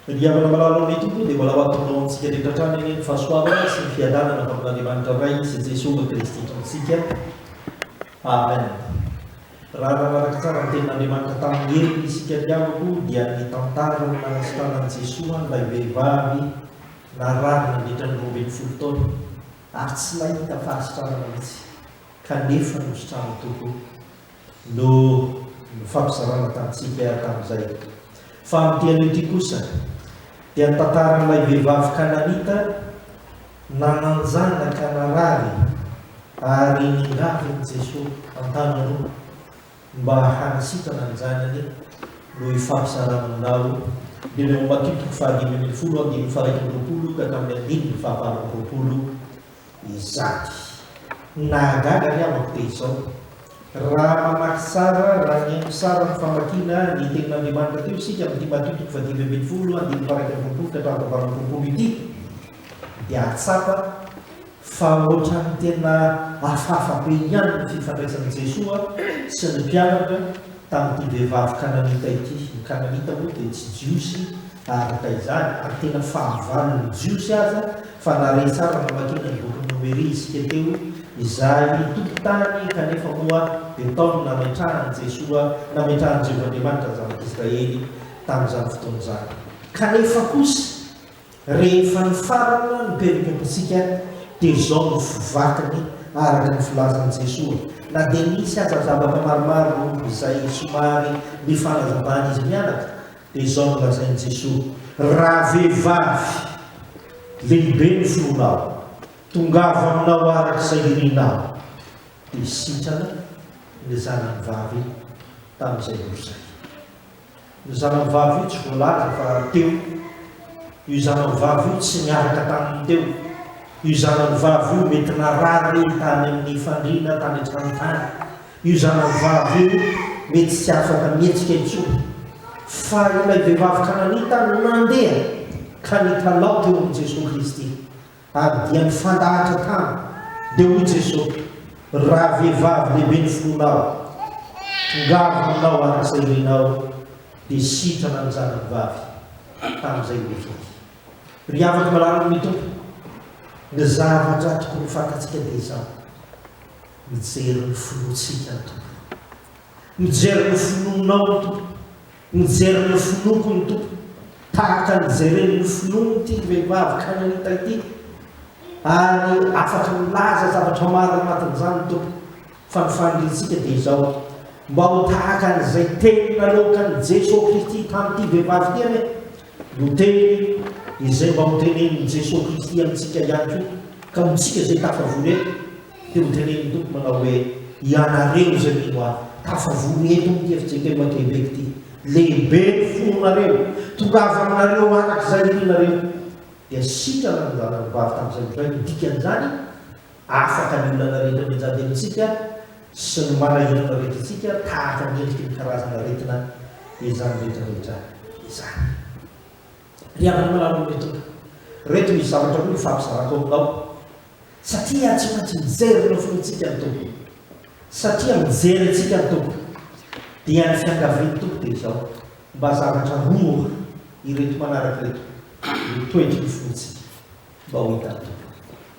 Ry havana malala anay Tompo o dia mbola ho ataonao amintsika rehetra hatrany anie ny fahasoavana sy ny fiadanana avy amin'Andriamanitra Ray sy Jesoa Kristy Tompontsika. Amen. Raha nanaraka tsara ny tenin'Andriamanitra tamin'ny heriny isika ry havako dia nitantara ny nanasitranan'i Jesoa an'ilay vehivavy narary nandritra ny roa ambin'ny folo taona ary tsy nahita fahasitranana mihitsy kanefa nositranin'i Tompo no nofampizarana tamintsika tamin'izay. Fa amin'ity anio ity kosa dia ny tantaran'ilay vehivavy Kananita nananjanaka narary ary ningavin'i Jesoa an-tanany roa mba hanasitrana ny zanany no hifampizarana aminao. Dimy amby roapolo toko fahadimy ambin'ny folo andininy faha iraika amby roapolo ka hatramin'ny andininy fahavalo amby roapolo. izany. Nahagaga ny amako dia izao, raha mamaky tsara, raha mihaino tsara ny famakiana ny Tenin'Andriamanitra teo isika amin'ity Matio toko fahadimy ambin'ny folo andininy faha-iraika amby roapolo ka hatramin'ny fahavalo amby roapolo ity, dia hahatsapa fa ohatran'ny tena hafahafa be ihany ny fifandraisan'i Jesoa sy ny mpianatra tamin'ity vehivavy kananita ity. Ny kananita moa dia tsy Jiosy araka izany, ary tena fahavalon'ny Jiosy aza Fa na re tsara namakiana ny bokin'i Nomery isika teo, izay nitoky tany kanefa moa dia tao no nametrahan'i Jesoa, nametrahan'i Jehovah Andriamanitra ny zanak'Israely tamin'izany fotoana izany. Kanefa kosa, rehefa nifarana ny perikompontsika dia izao no vakiny araka ny filazan'i Jesoa, na dia nisy aza zavatra maromaro izay somary nifanazavan'izy mianaka, Dia izao no lazain'i Jesoa, Raha vehivavy, lehibe ny fonao, tongava aminao araka izay irinao. Dia sitrana ilay zanany vavy tamin'izay ora izay. Ny zanany vavy io tsy voalaza fa teo. Io zanany vavy io tsy niaraka taminy teo. Io zanany vavy io mety narary tany amin'ny fandriana tany an-tranontany. Io zanavavy io mety tsy afaka mihetsika intsony, fa ilay vehivavy kananita nandeha ka nikalaoty eo amin'i Jesoa Kristy, ary dia nifandahatra tany. Dia hoy Jesoa, Ravehivavy lehibe ny fonao, tongava aminao araka izay irinao, dia sitrana ny zanany vavy. Tamin'izay ilay fety. Ry havako malala amin'ny Tompo, ny zavatra tokony ho fantatsika dia izao. Mijery ny finoantsika ny Tompo. Mijery ny finoanao ny Tompo. Mijery ny finoako ny Tompo. Tahaka ny jeren'ny finoan'ity vehivavy kananita ity. Ary afaka milaza zavatra maro anatin'izany ny Tompo. Fa ny faniriantsika dia izao, mba ho tahaka an'izay teny nanaokan'i Jesoa Kristy tamin'ity vehivavy ity anie. Io teny izay mba hotenenin'i Jesoa Kristy amintsika ihany koa. Ka ho antsika izay tafavory eto, Dia hojeren'ny Tompo manao hoe, Ianareo izay mino Ahy, tafavory eto amin'ity FJKM Québec ity. Lehibe ny fonareo. Tongava aminareo araka izay irinareo. Dia sitrana ny zanany vavy tamin'izay indray. Ny dikan'izany, afaka ny olana rehetra mianjady amintsika sy ny manahirana rehetra antsika tahaka ny endriky ny karazan'aretina izany rehetra rehetra izany. Ry havana malala ô ry Tompo, reto misy zavatra roa ifampizarako aminao, satria tsy maintsy mijery ny nofintsika ny Tompo, satria mijery antsika ny Tompo, dia ny fiangavian'ny Tompo dia izao, mba zavatra roa ireto manaraka ireto, ny toetry ny fontsika mba ho hitan'ny Tompo,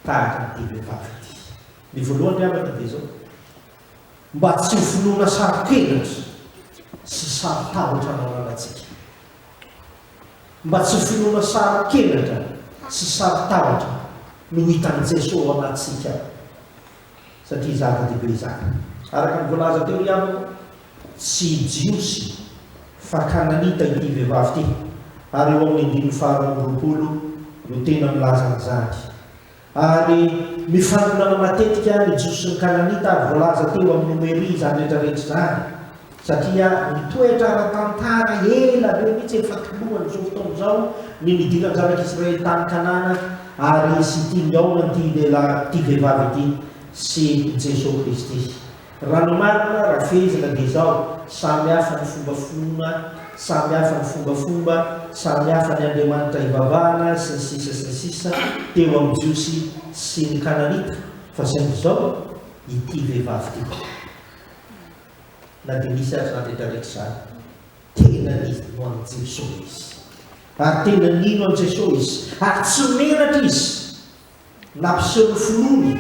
tahaka an'ity vehivavy ity. Ny voalohany ry havana dia izao, mba tsy ho finoana saro-kenatra sy saro-tahotra anao ananantsika. Mba tsy ho finoana saro-kenatra sy saro-tahotra no hitan'i Jeso ao anatintsika satria zava-dehibe izany. Araka ny voalaza teo ihany koa, tsy Jiosy fa Kananita ity vehivavy ity ary eo amin'ny andininy faharoa amby roapolo no tena milaza an'izany. Ary mifanolana matetika ny Jiosy sy ny Kananita ary voalaza teo amin'ny Nomeria izany rehetra rehetra izany satria mitoetra ara-tantara ela be mihitsy efa tolohan'izao fotoana izao ny nidiran'ny Zanak'i Israely tany Kanana ary sy ity nihaona an'ity lehilahy, ity vehivavy ity sy Jesoa Kristy. Raha ny marina, raha fehezina dia izao, samy hafa ny fomba finoana, samy hafa ny fombafomba, samy hafa ny andriamanitra ivavahana, sy ny sisa sy ny sisa, teo amin'ny Jiosy sy ny Kananita, fa saingy izao, ity vehivavy ity, na dia misy aza izany rehetrarehetra izany, tena nino an'i Jesosy izy, ary tena nino an'i Jesosy izy, ary tsy menatra izy. Nampiseho ny finoany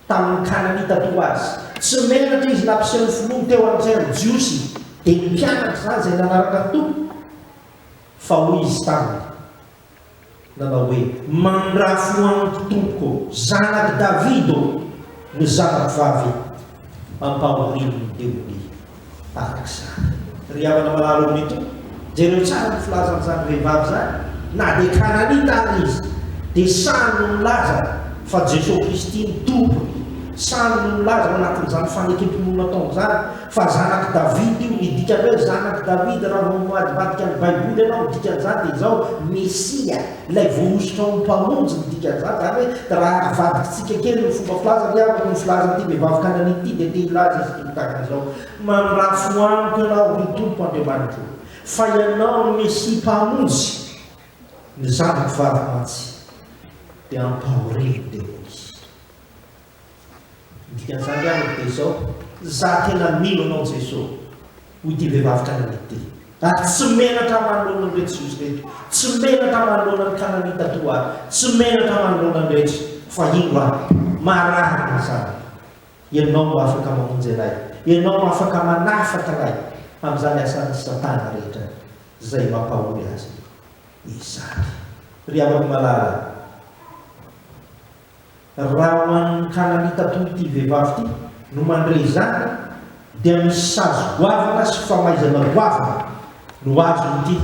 tamin'ny Kananita toa azy. Tsy menatra izy nampiseho ny finoany teo amin'izay amin'ny Jiosy, dia ny mpianatra izany izay nanaraka ny Tompo. Fa hoy izy taminy, nanao hoe, Mandrafo amiko Tompoko, zanak'i Davida ô, ny zanako vavy ampahorian'ny demonia. tahaka izany. Ry havana malala omby ito, jereo tsara ny filazan'izany vehivavy izany, na dia Kananita ary izy, dia sahy no milaza fa Jesosy Kristy no Tompony, sahy no milaza ao anatin'izany fanekem-pinoana ataony izany fa zanak'i Davida io, ny dikan'ny hoe zanak'i Davida raha vao mivadibadika ny Baiboly ianao, ny dikan'izany dia izao, Mesia. Ilay voahosotra ho mpamonjy ny dikan'izany, izany hoe raha avadikitsika kely ny fomba filazany dia araka ny filazan'ity vehivavy kananita ity dia te hilaza izy ity tahaka izao, Mandrafo amiko ianao, ry Tompo Andriamanitro, fa ianao no Mesia mpamonjy ny zanako vavy mantsy dia ampahorian'ny demonia. Ny dikan'izany ary dia izao, Izaho tena mino Anao Jeso, hoy ity vehivavy kananita ity, ary tsy menatra manoloana an'ireo Jiosy ireto, tsy menatra manoloana ny Kananita toa ahy, tsy menatra manoloana ny rehetra, fa indro aho, marary ny zanako. Ianao no afaka mamonjy anay, Ianao no afaka manafaka anay amin'izany asan'i Satana rehetra izay mampahory azy izany. Ry havako malala, Raha ho an'ny Kalamita toy ity vehivavy ity no mandre izany dia misy sazy goavana sy famaizana goavana no azon'ity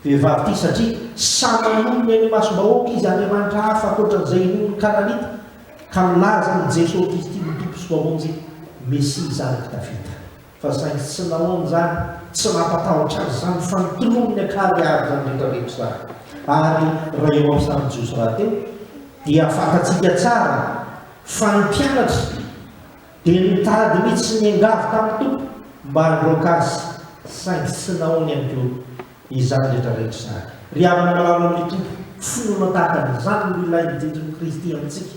vehivavy ity satria sahy manome ny masom-bahoaka izy Andriamanitra hafa ankoatran'izay inoan'ny Kalamita ka milaza an'i Jesosy Kristy ho Tompo sy Mpamonjy, Mesia zanak'i Davida. Fa saingy tsy nanao an'izany, tsy nampatahotra azy izany, fa notoloriny an-kary àry izany rehetra rehetra izany. Ary raha eo amin'ny sarin'i Jiosy rahateo, dia fantatsika tsara fa ny mpianatra dia nitady mihitsy ny angavy tamin'ny Tompo mba handroaka Azy, saingy tsy nahoany ihany koa izany rehetra rehetra izany. Ry havana malala amin'ny Tompo, finoana tahaka an'izany no ilain'ny dindrin'i Kristy amintsika.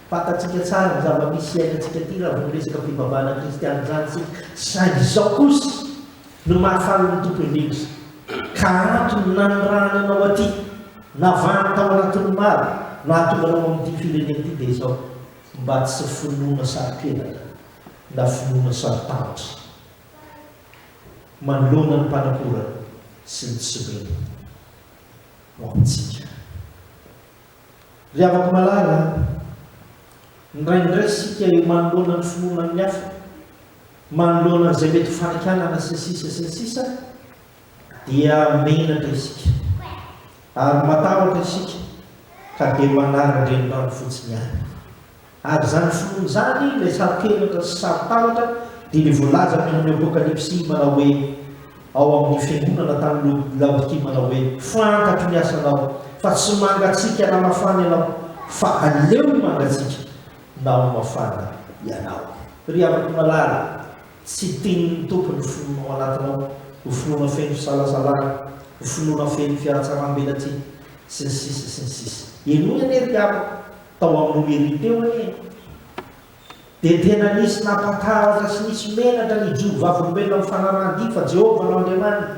Fantatsika tsara ny zava-misy iainantsika aty raha vao resaka fivavahana kristiana izany isika, saingy izao kosa no mahafaly ny Tompo indrindra, ka antony nanirahany anao aty, navahany tao anatin'ny maro, nahatonga anao amin'ity firenena ity dia izao, mba tsy finoana saro-kenatra na finoana saro-tahotra manoloana ny mpanakora sy ny tsy mino ho amintsika. Ry havako malala a! Indraindray isika eo manoloana ny finoana amin'ny hafa, manoloana an'izay mety ho fanakianana sy ny sisa sy ny sisa dia menatra isika ary matahotra isika ka dia manaran-drenirano fotsiny ihany. Ary izany finoana izany, ilay saro-kenatra sy saro-tahotra, dia ilay voalazan'ny amin'ny Apokalypsy manao hoe, ao amin'ny fiangonana tany Laodikia manao hoe, Fantatro ny asanao, fa tsy mangatsiaka na mafana ianao, fa aleo ho mangatsiaka na ho mafana ianao. Ry havako malala, tsy tian'ny Tompo ny finoana ao anatinao ho finoana feno fisalasalana, ho finoana feno fihatsaram-belatsihy, sy ny sisa sy ny sisa. Henoy anie ry havako. Tao amin'ny mairie teo anie dia tena nisy nampatahotra sy nisy menatra ny jono vavolombelona amin'ny fanarahan-dia fa Jehovah no Andriamaniny,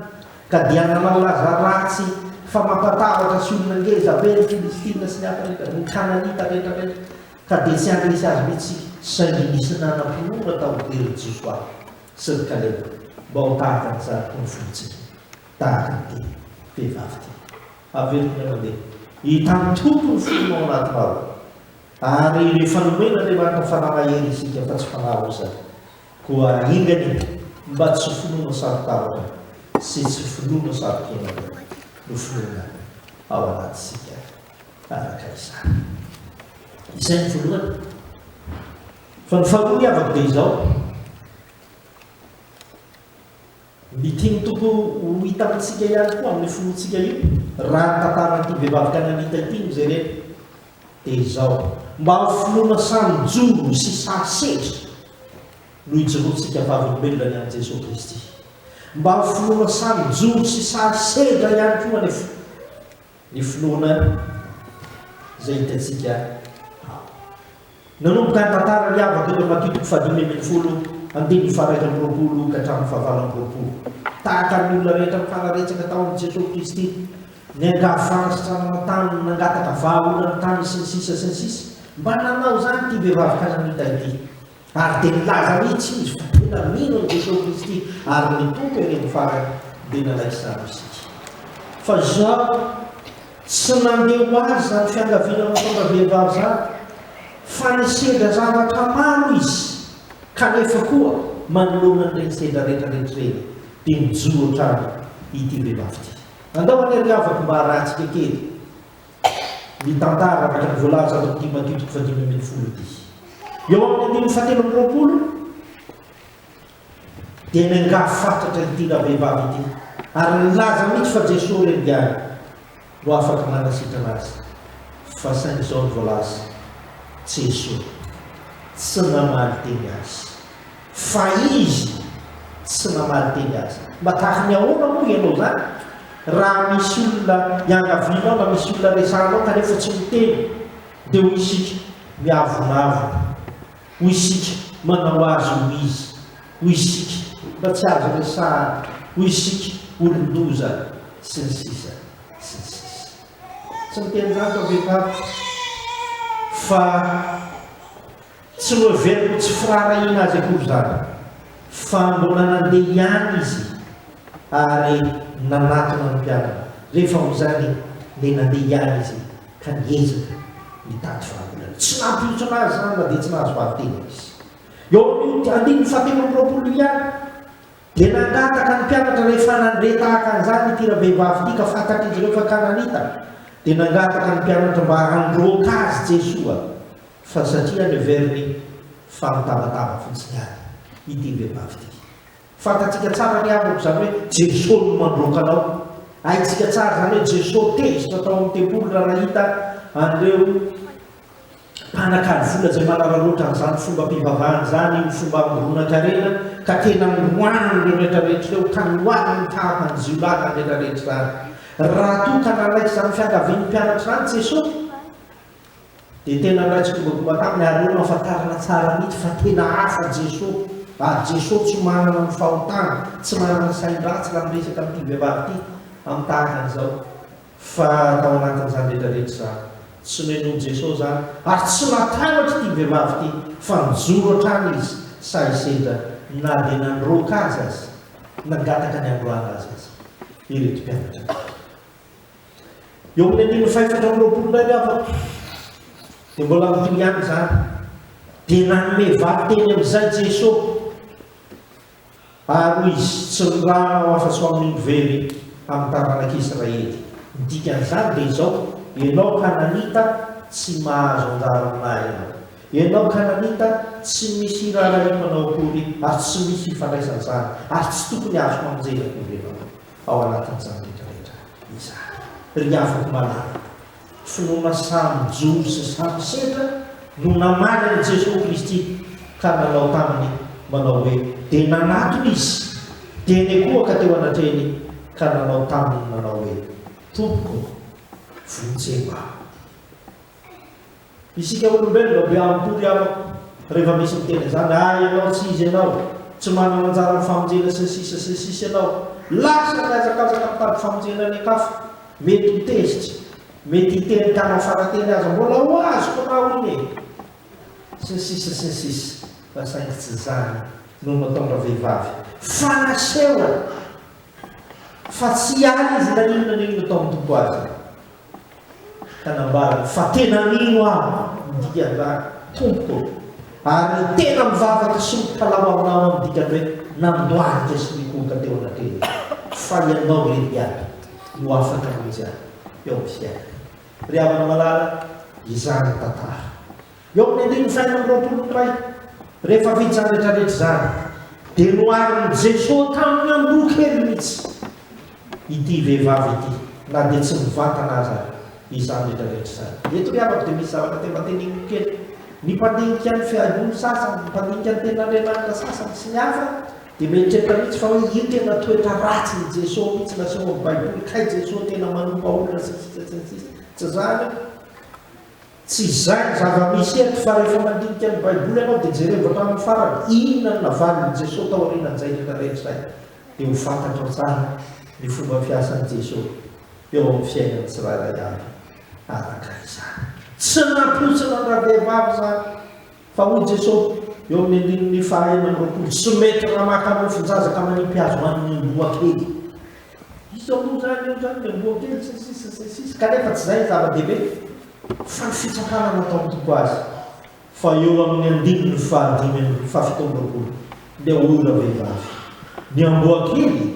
ka dia nanao laza ratsy fa mampatahotra sy olona ngeza be ny Filistina sy ny hafa rehetra, ny Kananita rehetra rehetra, ka dia tsy handresy azy mihitsy isika. Saingy nisy nanam-pinoana tao an-keriny Josoa sy ry Kaleba mba ho tahaka ny zanaky ny folotsika, tahaka ity vehivavy ity. Averiko ny mandeha. Hitan'ny Tompo ny fonao ao anatinao. Ary rehefa nomen'Andriamanitra fanahy mahery isika fa tsy fanahy roa izany, koa enga anie mba tsy finoana saro-tavaka sy tsy finoana saro-piainana no finoana ao anatintsika araka izany. Izay ny voalohany. Fa ny faharoa ny havako dia izao. Ny tian'ny Tompo ho hita amintsika ihany koa amin'io finoantsika io, raha ny tantaran'ity vehivavy kananita ity no jerena, dia izao, mba ho finoana samy joro sy samy setra no ijoroantsika vavolombelona ny an'i Jesoa Kristy. Mba ho finoana samy joro sy sary sedra ihany koa anefa. Ny finoana izay hitantsika ao. Nanomboka ny tantara niavaka teo Matitiko fahadimy ambin'ny folo, andininy faharaika amby roapolo ka hatramin'ny fahavalo amby roapolo. Tahaka ny olona rehetra nifanaretsaka tao amin'i Jesosy Kristy, niangavy fanasitranana taminy, nangataka vahaolana taminy sy ny sisa sy ny sisa. Mba nanao izany ity vehivavy kananita ity. Ary dia nilaza mihitsy izy fa tena mino an'i Jesosy Kristy ary ny Tompo eny amin'ny farany dia nalaky izany isika. Fa izaho tsy nandeha ho azy izany fiangaviana mahatonga vehivavy izany, fa nisedra zavatra maro izy, kanefa koa manoloana an'ireny sedra rehetra rehetra ireny dia mijoro hatrany ity vehivavy ity. Andao anie ry havako mba harahantsika kely. ny tantara araka ny voalaza ato amin'ny Timotheo toko fahadimy ambin'ny folo dia eo amin'ny andininy fahatelo amby roapolo dia niangaha fatratra ity ravehivavy ity ary nilaza mihitsy fa Jesoa re ny Ady no afaka manasitrana azy fa saingy izao ny voalaza Jesoa tsy namaly teny azy Fa izy tsy namaly teny aza. Mba tahaka ny ahoana moa ianao izany raha misy olona iangavianao na misy olona resahanao kanefa tsy miteny dia hoy isika miavonavona, hoy isika manao azy ho izy, hoy isika mba tsy azo resahana, hoy isika olon-doza sy ny sisa sy ny sisa. Tsy miteny izany fa vehivavy fa. Tsy noheveriko tsy firaharahiana azy akory izany fa mbola nandeha ihany izy ary nanatona ny mpianany. Rehefa ho izany dia nandeha ihany izy ka niezaka nitady vahaolana. Tsy nampihontsona azy izany na dia tsy nahazo vavy-tena izy. Eo amin'io andininy fahatelo amby roapolo io ihany dia nangataka ny mpianatra rehefa nandre tahaka an'izany ity ravehivavy ity ka fantatr'izy ireo fa Kananita dia nangataka ny mpianatra mba handroaka azy Jesoa Fa satria any Auvergne, fa mitabataba fotsiny any ity vehivavy ity. Fantatsika tsara ry havako izany hoe Jeso no mandroaka anao. Haintsika tsara izany hoe Jeso tezitra tao amin'ny tempoly raha nahita an'ireo mpanakalo vola izay manararoatra an'izany fombam-pivavahana izany, io fomba amoronan-karena, ka tena noroahany ireo rehetrarehetra ireo, ka noaliny ny fahavan'ny jiolahy izany rehetrarehetra izany. Raha toa ka nanaiky izany fiangavian'ny mpianatra izany Jeso, Dia tena raha tsy tonga tonga taminy ary eo no afantarana tsara mihitsy fa tena hafa Jesoa, ary Jesoa tsy manana ny fahotana, tsy manana ny sain-dratsy raha miresaka amin'ity vehivavy ity amin'ny tahaka an'izao, fa tao anatin'izany rehetra rehetra izany tsy nohenoin'i Jesoa izany, ary tsy natambatra ity vehivavy ity fa nijoro hatrany izy sahy sendra na dia nandroaka azy aza, nangataka ny handroahana azy aza ireto mpianatra ireto. Eo amin'ny andininy fahefatra amby roapolo indray ny havako dia mbola mitohy ihany izany. Dia nanome vato teny amin'izay Jesosy, ary hoy izy, Tsy nirahana aho afa-tsy ho amin'iny very amin'ny taranak'Israely. Ny dikan'izany dia izao, Ianao Kananita tsy mahazo anjara amin'ahy ianao. Ianao Kananita tsy misy hiraharahiako anao akory ary tsy misy hifandraisana izany, ary tsy tokony azoko hamonjena akory ianao. Ao anatin'izany rehetrarehetra izany, ry havako malala, finoana samy jono sy samy sedra no namaly an'i Jesoa Kristy ka nanao taminy manao hoe, dia nanatona Izy, dia nikohaka teo anatrehiny ka nanao taminy manao hoe, Tompoko ô, vonjeo aho. Isika olombelona be ampy-tory amiko rehefa misy miteny an'izany, ah ianao tsy izy ianao, tsy manana anjara amin'ny famonjena sy ny sisa sy ny sisa ianao, lasa mihazakazaka mitady famonjena any an-kafa, mety ho tezitra, mety hiteny tana fara-teny aza, mbola ho azoko na hono e! sy ny sisa sy ny sisa, fa saingy tsy izany no nataon-dra vehivavy, fa nasehony fa tsy hiala izy na inona na inona tao amin'ny Tompo aza. Ka nambarany fa tena mino aho ny dikan'izany, Tompoko ô, ary ny tena mivavaka sy mitalaho aminao amin'ny dikany hoe nandohalika sy nikohoka teo anatrehany, fa ianao irery iaby no afaka hamonjy ahy eo amin'ny fiainako. Ry havana malala, izany ny tantara. Eo amin'ny andininy fahenina amby roapolo iray, rehefa vita izany rehetrarehetra izany, dia noharin'i Jesoa tamin'ny andoha kely mihitsy ity vehivavy ity, na dia tsy mivantana aza izany rehetrarehetra izany. Eto ry havako dia misy zavatra te mba teneniko kely. Ny mpandinika ny fihainoany sasany, ny mpandinika ny Tenin'Andriamanitra sasany sy ny hafa dia mieritreritra mihitsy fa hoe io tena toetra ratsin'i Jesoa mihitsy no asehon'ny Baiboly, kay Jesoa tena manompa olona sy ny sisa sy ny sisa. Tsy izany io. Tsy izay ny zava-misy eto, fa rehefa mandinika ny Baiboly ianao dia jerevo hatramin'ny farany inona no navalin'i Jesoa taorianan'izay rehetra rehetra izay, dia ho fantatrao tsara ny fomba fiasan'i Jesoa eo amin'ny fiainan'ny tsirairay avy araka izany. Tsy nampoizin'andrabevavy izany. Fa hoy Jeso, eo amin'ny andininy fahaenina amby roapolo, Tsy mety raha maka mofon-jaza ka manipy azy ho an'ny amboa kely. Iza moa izany eo izany ny amboa kely sy ny sisa sy ny sisa. Kanefa tsy izay ny zava-dehibe, fa ny fitsapana nataon'ny Tompo azy. Fa eo amin'ny andininy fahadimy amby fahafito amby roapolo, dia hoy ravehivavy, Ny amboa kely,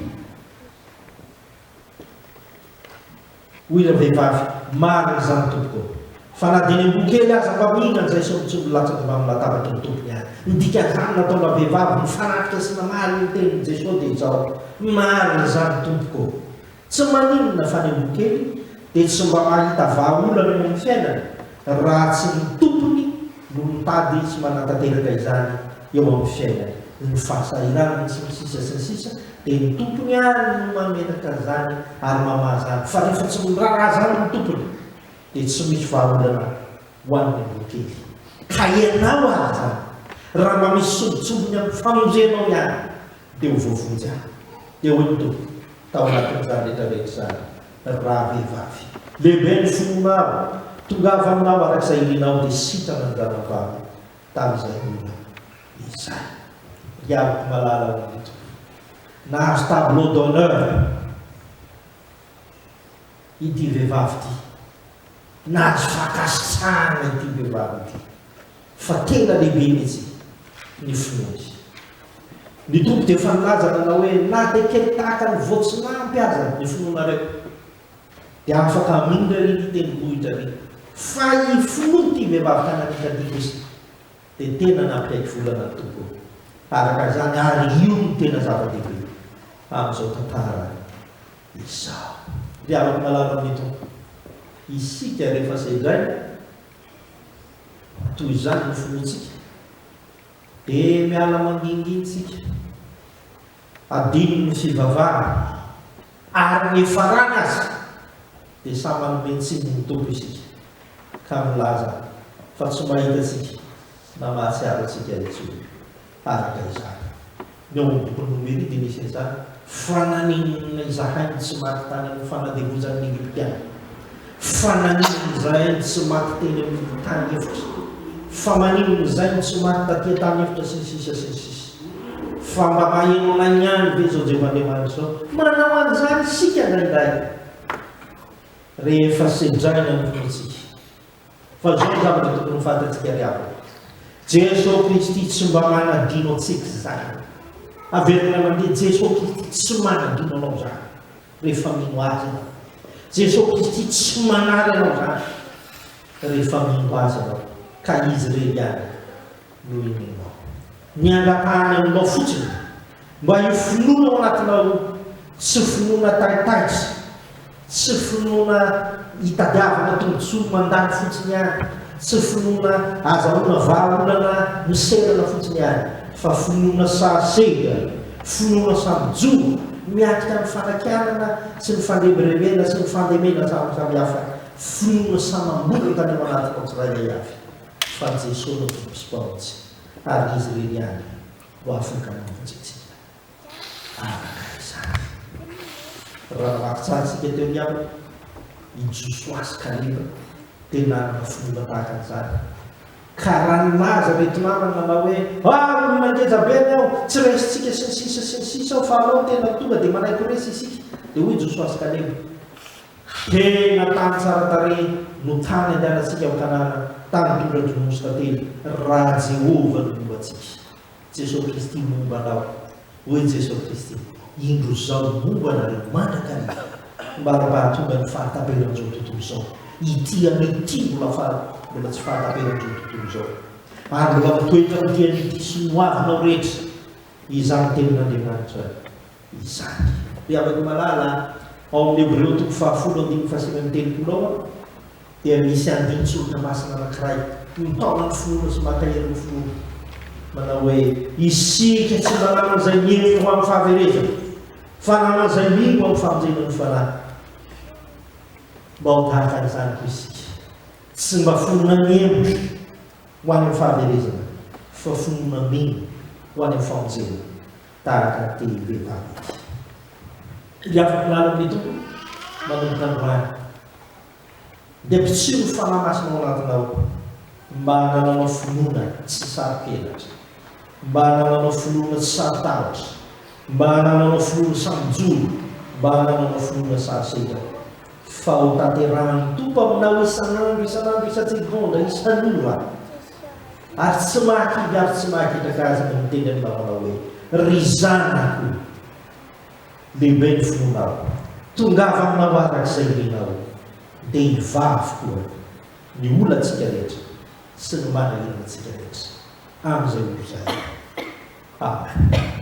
Hoy ilay vehivavy, Marina izany tompoko ô! Fa na dia ny amboa kely aza mba mihinana izay sombintsombiny milatsaka eo amin'ny latabatry ny tompony àry. Ny dikan'izany nataonà vehivavy mifanatrika sy namaly ny tenin'i Jesoa dia izao, Marina izany tompoko ô! Tsy maninona fa ny amboa kely dia tsy mba mahita vahaolana eo amin'ny fiainany raha tsy ny tompony no mitady tsy manatanteraka izany eo amin'ny fiainany. Ny fahasahiranany sy ny sisa sy ny sisa dia ny tompony ary no mametraka an'izany ary mamaha izany fa rehefa tsy miraharaha izany ny tompony dia tsy misy vahaolana ho an'ny andian-kely. Ka ianao aza raha mba misy sombintsombiny amin'ny famonjenao ihany dia ho voavonjy aho. Dia hoy ny tompony tao anatin'izany rehetra rehetra izany Ravehivavy. Lehibe ny fon'ny maro. Tongava aminao araka izay ilianao dia sitrana ny ranabavy tamin' izay ora izay. Ry aliko malala ao amin'ny toby. Nahazo tableau d'honneur ity vehivavy ity. Nahazo fankasitrahana ity vehivavy ity. fa tena lehibe mihitsy ny finoany. Ny Tompo dia efa nilaza nanao hoe na dia kely tahaka ny voatsinampy aza ny finoanareo dia afaka haminina ry ny tendrombohitra ry fa i finoany ity vehivavy kananita ity kosa dia tena nampiaiky volana ny Tompo araka izany ary io no tena zava-dehibe amin'izao tantara izao. Ry havako malala amin'ny Tompo, isika rehefa sedraina Toy izany ny finoantsika, dia miala mangingina isika, adino ny fivavahana, ary ny farany aza dia samy hanome tsiny ny Tompo isika, ka milaza fa tsy mahita antsika na mahatsiaro antsika intsony. Araka izany, ny ao amin'ny bokin'i Nomeria dia misy an'izany fananenenana izahay no tsy maty tany amin'ny fanadevozan'ny Egyptiana, fananenana izahay no tsy maty teny amin'ny tany efitra, famanenana izahay no tsy maty taty an-tany efitra, sy ny sisa sy ny sisa. Fa mba mahelonay ihany ve izao Jehovah Andriamanitra izao? Manao an'izany isika indraindray, rehefa sedraina ny fontsika. Fa zao ny zavatra tokony ho fantatsika ry havana, Jeso Kristy tsy mba manadino antsika izany. Averina mandeha, Jeso Kristy tsy manadino anao izany rehefa mino Azy ianao. Jeso Kristy tsy manary anao izany rehefa mino Azy ianao, ka Izy irery ihany. noho i Nénao. Ny hangatahany aminao fotsiny mba hifonoana ao anatinao tsy finoana taitaitra, tsy finoana hitadiavana tombotsoa mandany fotsiny ihany, tsy finoana azahoana vahaolana miserana fotsiny ihany, fa finoana sary sehitra, finoana samy jono, miatrika amin'ny fanakianana sy ny fandrebirebena sy ny fandemena samy samihafa, finoana samy amboletra any ao anatinao tsirairay avy. fa Jeso no Tompo sy Mpamonjy ary Izy ireny ihany no afaka mamonjy antsika araka izany. Raha namaky tsara isika teo ny ampy, i Josoa sy Kaleba dia nanana finoana tahaka an'izany, ka raha nilaza ireto namany nanao hoe, Ah, olona ngeja be ny ao, tsy resintsika sy ny sisa sy ny sisa ao fa Anao tena tonga dia manaiky ho resy isika, dia hoy Josoa sy Kaleba, Fiteny na tany tsara tarehy no tany andehanantsika ho tanàna tany tondradranosy tantely raha Jehovah no momba antsika. Jesoa Kristy momba anao. Hoy Jesoa Kristy, Indro Zaho momba anareo mandrakariva. Maro mba hahatonga ny fahataperan'izao tontolo izao. Ity anio ity mbola faha, mbola tsy fahataperan'izao tontolo izao. Ary mbola mitoetra amin'ity anio ity sy ny hoavinao rehetra izany tenin'Andriamanitra. izany. Ry havako malala a, ao amin'ny Hebreo toko fahafolo andininy fahasivy amby telopolo ao dia misy andinin-tsoratra masina anankiray nitaonan'ny finoana sy mampaherin'ny finoana, manao hoe. Isika tsy mba nanana izay niheno ho amin'ny fahaverezana, fa nanana izay nino ho amin'ny famonjena ny fanahy. Mba ho tahaka an'izany koa isika, tsy mba finoana mihemotra ho any amin'ny fahaverezana, fa finoana mino ho any amin'ny famonjena. taratra telo be mpamety. Dia afaka làlako ny Tompo manomboka androany. Dia potsiro ny Fanahy Masina ao anatinao mba hanananao finoana tsy saro-penatra, mba hanananao finoana tsy saro-tahotra, mba hanananao finoana saro-joro, mba hanananao finoana saro-sedra, fa ho tanterahan'ny Tompo aminao isan'andro, isan'andro, isan-tsegondra, isan'ora. Ary tsy mahakivy ary tsy mahaketraka azy ny miteny amin'ny namana hoe, Ry zanako, lehibe ny finoanao, tongava aminao araka izay irianao, dia hivavy koa ny olantsika rehetra sy ny manahirana antsika rehetra, amin'izay ho mpizaha. Amen.